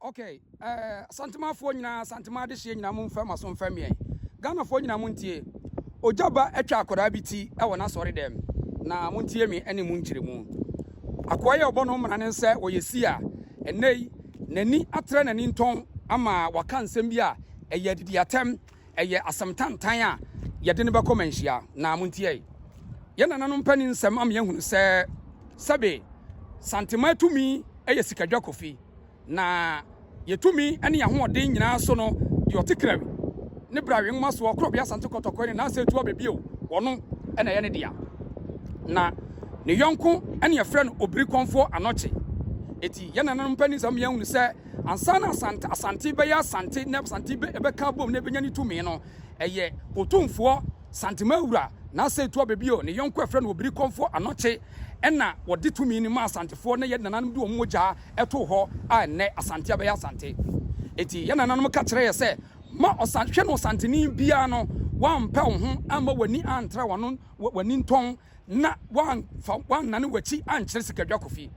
Ok ɛɛ asantemanfoɔ nyinaa asanteman adehyeɛ nyinaa mo nfa maso nfa miɛn Ghanafoɔ nyinaa mo ntie Ogya ba atwa akwadaa bi ti ɛwɔ n'asɔre dɛm na mo ntie me ɛne mo nkyerɛmu Akoa yɛ ɔbɔ no mmara ne nsɛ wɔ yɛ si a ɛnɛ yi n'ani atrɛ n'ani ntɔn ama waka nsɛm bi a ɛyɛ adidi atɛm ɛyɛ asɛm tantan a yɛde no bɛkɔ manhyia na monteɛ yɛ nananom pɛ ne nsɛm ama yɛahunu sɛ sɛbe santema tumi yɛ sikadwa kofi na yɛtumi ne yɛahoɔden nyinaa so no deɛ ɔte krawi ne brawe nwoma soɔ korɔbea asante kɔtɔkɔe ne naasɛ atu abɛbio wɔno ɛna ɛyɛ ne dea na ne yɔnko ɛne ɛfrɛ no obiri kɔnfoɔ anɔkye eti yɛ nananom pɛ ne nsɛm yɛahunu sɛ Ansa na Asante, Asante bɛyɛ Asante na Asante bɛka abom na ɛbɛnya ne tumi no, ɛyɛ Otumfoɔ, Santema Wura, Nasser Tuabe bio, ne yɔnko a ɛfrɛ no Obirikɔmfoɔ Anɔkye ɛna wɔde tumi no maa Asantefoɔ na yɛn nananom de wɔn mogyaa too hɔ a ɛnnɛ Asante abɛyɛ Asante. Enti yɛn nananom ka kyerɛ yɛ sɛ, ma Ɔsan, hwɛ na Ɔsanteni biara no, woampɛ wo ho amma w'ani antra w'ano, w'ani ntɔn, na woamfa woannane w'akyi ankyerɛ sikadwakɔfie.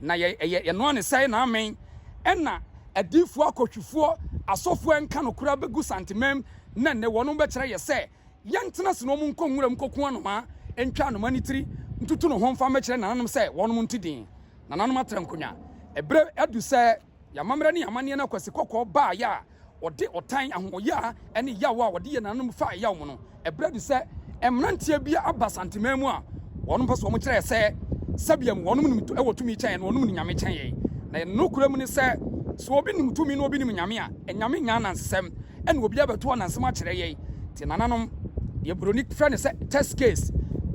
Na yɛ ɛyɛ yɛnoa ne sɛe na amen ɛna adiyifoɔ akɔhwifoɔ asɔfoɔ ɛnka nokorɛ abɛgu Santemam na ɛnɛ wɔnom bɛkyerɛ yɛ sɛ yɛntena ase na wɔn nkɔ nwura mu nkɔku anomaa ntwa anomaa ne tiri ntutu ne ho mfa mmɛkyerɛ nananom sɛ wɔnom nte din nananom atra nkonwa ɛberɛ adu sɛ Yɛn amammerɛ ne yɛn amanneɛ no akwasi kɔkɔɔ baeɛ a wɔde ɔtan, ahoɔyaa ne yaw a wɔde yɛɛ nananom faa ɛyaw mu no, ɛberɛ adu sɛ mmeranteɛ bi aba Santeman mu a wɔnom pɛ so, wɔkyerɛɛ sɛ sɛbiam wɔnom nim wɔ tumi kyɛn yɛn, wɔnom nim Nyame kyɛn yɛn. Na yɛn nokorɛ mu ne sɛ, sɛ obi nim tumi na obi nim Nyame a, anyame nyɛ anansesɛm, ɛna obiara bɛto anansesɛm akyerɛ yɛn. Te nananom, deɛ Buroni frɛ no sɛ test case,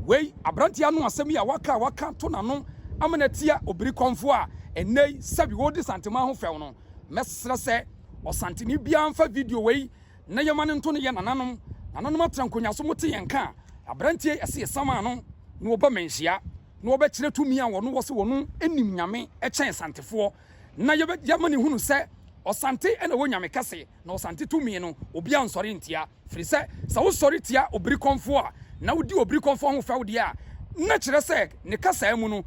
wei aberanteɛ ano asɛm yi a waka a waka ato n'ano ama no atia obirikɔmfoɔ a, Ɛnnɛ yi, sɛbi woredi santen ma ho fɛw no, mɛsrɛ sɛ ɔsanteni biara mfa video wei na yɛmma no nto no yɛn nananom. Nananom atra nkonwa so, mote yɛn nka a, aberanteɛ yi ɛse yɛsan maa no na ɔba mmanhyia na ɔbɛkyerɛ tumi a wɔn wɔ sɛ wɔn nim Nyame kyɛn Asantefoɔ na yɛbɛ yɛama no ahunu sɛ Ɔsante na ɛwɔ Nyame kɛse na Ɔsante tumi no obiara nsɔre ntia. Ɛfiri sɛ, sɛ wosɔre tia obirikɔmfoɔ a, na wodi obirikɔmfoɔ ho fɛw deɛ a, na kyerɛ sɛ ne kasaa mu no,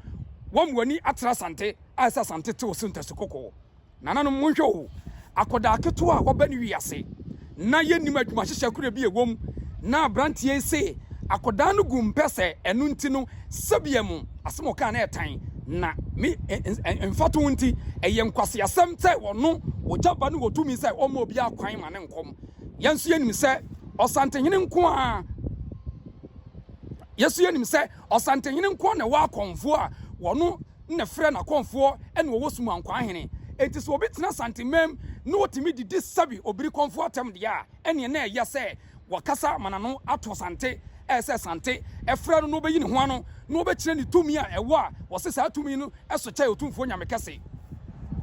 woama w'ani atra Asante a ɛsɛ Asante te wo so ntasu-kɔkɔɔ. Nananom, monhwɛ o, akwadaa ketewa a waba ne wiase, na yɛnnim adwumahyehyɛ korɔ bi a ɛwɔ mu, na aberanteɛ yi se akwadaa no gu mpɛ sɛ ɛno nti no, sɛdeɛ mo asɛm a ɔkaa no yɛ tan, na me mfatoho nti, ɛyɛ nkwaseasɛm sɛ wɔno ogya ba no wɔ tumi sɛ ɔmma obiara kwan ma ne nkɔm. Yɛn nso yɛnim sɛ ɔsantenhene nko a yɛso yɛnim sɛ ɔsantenhene nko na ɛwɔ akɔmfoɔ a wɔno na frɛ n'akɔmfoɔ ɛna wɔwɔ sum ankwaa hene enti sɛ obi tena santemam na wɔtumi didi sɛbi obiri kɔmfoɔ atɛm deɛ a ɛneɛ na ɛyɛ sɛ wɔkasa ma n'ano ato sante ɛyɛ sɛ sante ɛfrɛ no na wɔbɛyi ne ho ano na wɔbɛkyerɛ ne tumi a ɛwɔ a wɔse saa tumi no ɛso kyɛ ɔtumfoɔ nyame kɛse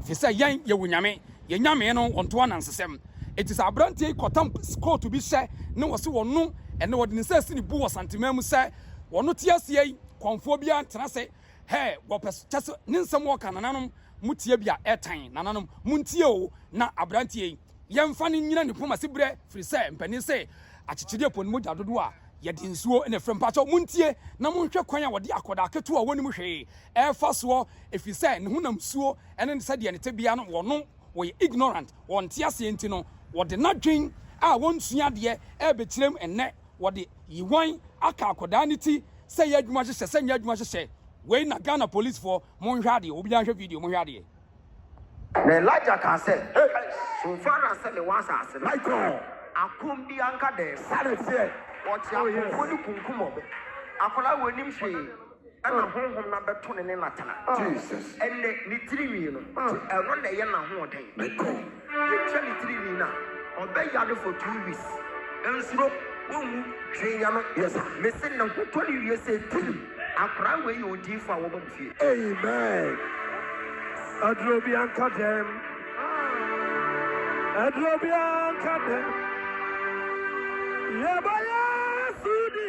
fi sɛ yɛn yɛwɔ nyame Yɛn Nyame no ɔnto anansesɛm. Enti sɛ aberanteɛ yi kɔtam kootu bi hyɛ ne wɔse wɔno ɛnɛ wɔde ne nsa asi ne bu wɔ Santeman mu sɛ wɔno te aseɛ yi kɔmfoɔ biara ntena ase hɛɛ wɔ pɛ so kyɛse ne nsɛm wɔka nananom mo tie bia ɛtan nananom montie o na aberanteɛ yi yɛnfa no nyina ne poma ase berɛ firi sɛ mpanin se akyekyedeɛ pɔ ne mogya dodoɔ a yɛde nsuo na ɛfrɛ mpakyɛw montie na monhwɛ kwan a wɔde akɔdaa ketewa a wɔnim hwee ɛɛfa soɔ ɛfiri sɛ ne honam suo ɛne sɛdeɛ ne tebea no wɔno wɔyɛ ignorant wɔn nteaseɛ nti no wɔde nadwen a wɔnsua adeɛ ɛɛbɛkyirem ɛnnɛ wɔde yiwan aka akɔdaa no ti sɛ yɛ adwuma hyehyɛ sɛ nyɛ adwuma hyehyɛ wei na Ghana police foɔ monhwɛ adeɛ obiaa nhwɛ video monhwɛ adeɛ. Na Elijah kaa sɛ, So far as sɛ mewɔ asase no so a, akomm bi anka dɛn? Wɔkye akofoɔ no kunkum wɔn. Akwadaa wei nim hwee. Ɛna honhom no abɛto no ne no atena. Ɛnɛ, ne tirinwi no, ɛno na ɛyɛ n'ahoɔden. Yɛtwa ne tirinwi no a, ɔbɛyare for two weeks. Nsuro, wonwu hwee nyɛ no. Mese ne ho tɔ no wie sɛ tirim. Akwadaa wei yɛ odiyifoɔ a wɔbɔ no fie. Amen aduro bia nka dɛm aduro bia nka dɛm yɛbɔ yɛ sudi.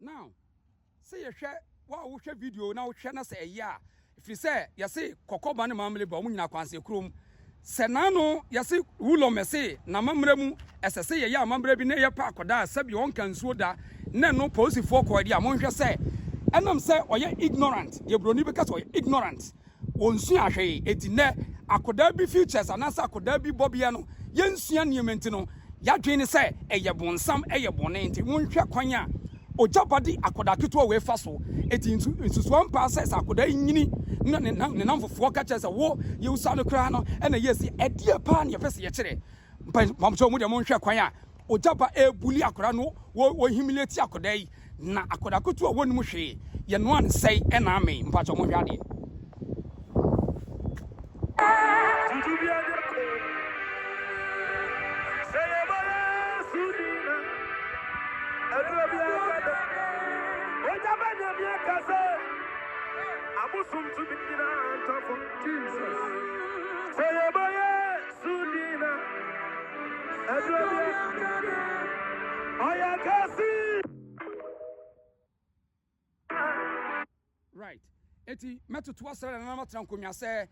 Now, sɛ yɛhwɛ wo a wohwɛ video na wohwɛ na sɛ ɛyɛ a, ɛfiri sɛ yɛse kɔkɔba ne mammerɛ ba ɔmo nyinaa kwansɛ kurom. Sɛ n'ano yɛse wulɔm ɛse n'amammerɛ mu ɛsɛ sɛ yɛyɛ amammerɛ bi na yɛ pa akɔda a sɛbi ɔnka nsuo da na ɛno polisifoɔ kɔɔ deɛ a monhwɛ sɛ ɛnam sɛ ɔyɛ ignorant deɛ buroni bɛka sɛ ɔyɛ ignorant Wɔnsuaa hwee. Enti nnɛ, akwadaa bi futures anaasɛ akwadaa bi bɔbea no, yɛnsua nneɛma nti no, yɛadwene ne sɛ ɛyɛ bonsam, ɛyɛ bɔne. Enti monhwɛ kwan a ogya ba de akwadaa ketewa wei fa so. Enti nsu, nsusuw ampa sɛ sɛ akwadaa yi nyini na ne, ne nnamfofoɔ ka kyerɛ sɛ, Wo, yewusa no koraa no, ɛnna yɛasi. Ɛdeɛ paa na yɛpɛ sɛ yɛkyerɛ? Mpaebɔ, mpaebɔ, mo deɛ monhwɛ kwan a. Ogya ba ɛrebuli akwadaa no wɔ wɔ humiliate akwadaa yi na akwadaa kutu a wɔnim hwee yɛ no ansɛe ɛna amee mpakyɛ ɔmo hwɛ adeɛ. Right. Eti mɛtoto asɛrɛ na nana matena nkonnwa sɛ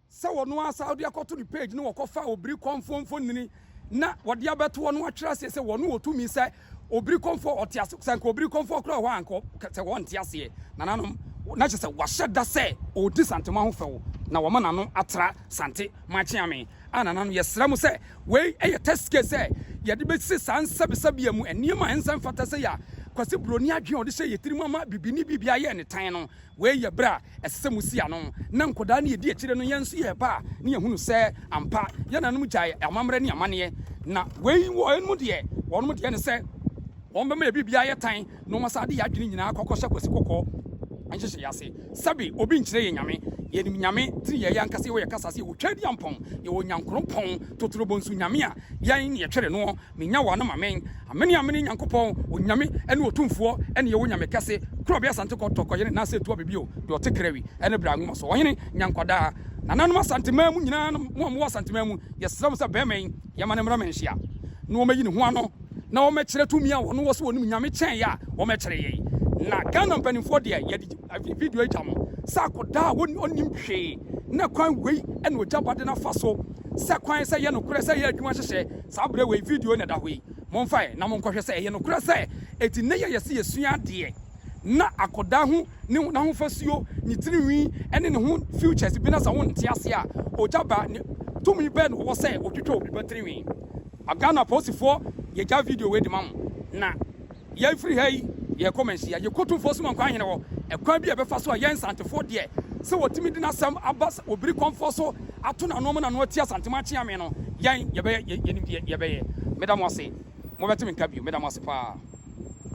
sɛ wɔn asa wɔde akɔto ne page no wɔkɔfa obiri kɔnfo mfonini na wɔde abɛto wɔn atwerɛ aseɛ sɛ wɔn wɔtumi sɛ Obiri kɔmfoɔ ɔte ase sɛ anka obiri kɔmfoɔ koraa wɔ hɔ a anka sɛ wɔnte aseɛ nananom na kyerɛ sɛ wahyɛ da sɛ ɔredi Santema ho fɛw na wɔma n'ano atra Sante Maakyeame a nananom yɛsrɛ mo sɛ wei yɛ test case sɛ yɛde bɛsi saa nsɛbesɛbea mu nneɛma a ɛnsɛ mfata sɛ yɛ a Kwasi Buroni adwene a ɔde hyɛ yɛn tirim ama bibini biribiara yɛ ne tan no wei yɛ berɛ a ɛsɛ sɛ musi ano na nkwadaa ne edi akyire no yɛn nso yɛ ba a ne yɛhunu sɛ ampa yɛn nananom gyae amammerɛ ne amanneɛ na wei wɔ ɛnom deɛ wɔnom deɛ ne sɛ wɔn bɛma yɛ biribiara yɛ tan na wɔn asa de yɛ adwene nyinaa kɔkɔ hyɛ kwasi kɔkɔɔ nhyehyɛ yɛ ase sɛbe obi nkyerɛ yɛ nyame yɛnim nyame tiri yɛ yɛ ankasa yɛwɔ yɛ kasa se yɛwɔ twɛdi ampɔn yɛwɔ nyankoropɔn totorobɔ nso nyame a yɛn ne yɛtwere noɔ Menya wo anom amen. Amene amene Nyankopɔn onyame ɛne otumfoɔ ɛne yɛwɔ nyame kɛse koro ɔbea asante kɔ tɔ kɔ yene nase tua bɛbi o deɛ ɔte kra wi ɛne bra nwoma so ɔhene nya nkwadaa nananom asante man mu nyinaa nom mo a mowɔ asante man mu yɛsrɛ mo sɛ bɛɛma yi yɛma no mmra manhyia na wɔmɛyi ne ho ano na wɔmɛkyerɛ tumi a wɔno wɔ sɛ wɔnim nyame kyɛn yɛ a wɔmɛkyerɛ yɛn na Ghana mpanimfoɔ deɛ yɛde video yi gya mo sɛ akɔdaa a ɔnim hwee na kwan wei ɛna ɔgya bade no afa so sɛ kwan sɛ yɛ nokorɛ sɛ yɛ adwuma hyehyɛ Saa berɛ wei video yi na ɛda hɔ yi, momfa ɛ na monkɔhwɛ sɛ ɛyɛ nokorɛ sɛ ɛti nnɛ yi a yɛse yɛsua adeɛ na akɔdaa hu ne ho n'ahofasuo, ne tirinwi ne ne ho features bi na sɛ wonte aseɛ a ogya ba ne tumi bɛn na ɔwɔ sɛ ɔtwitwa obi ba tirinwi? Ghana apolisifoɔ yɛgya video wei de ma mo na. Yɛn firi ha yi yɛkɔ Manhyia, yɛkɔtu mfo som nkwa hene hɔ, ɛkwan bi a ɛbɛfa so a yɛn Nsantefoɔ deɛ sɛ wɔtumi de n'asɛm aba sɛ wɔbiri kɔmfoɔ so ato n'ano ma n'ano atia Santema akyeame no, yɛn yɛbɛyɛ, yɛnim deɛ yɛbɛyɛ. Meda mo ase, mobɛte me nka bio, meda mo ase paa.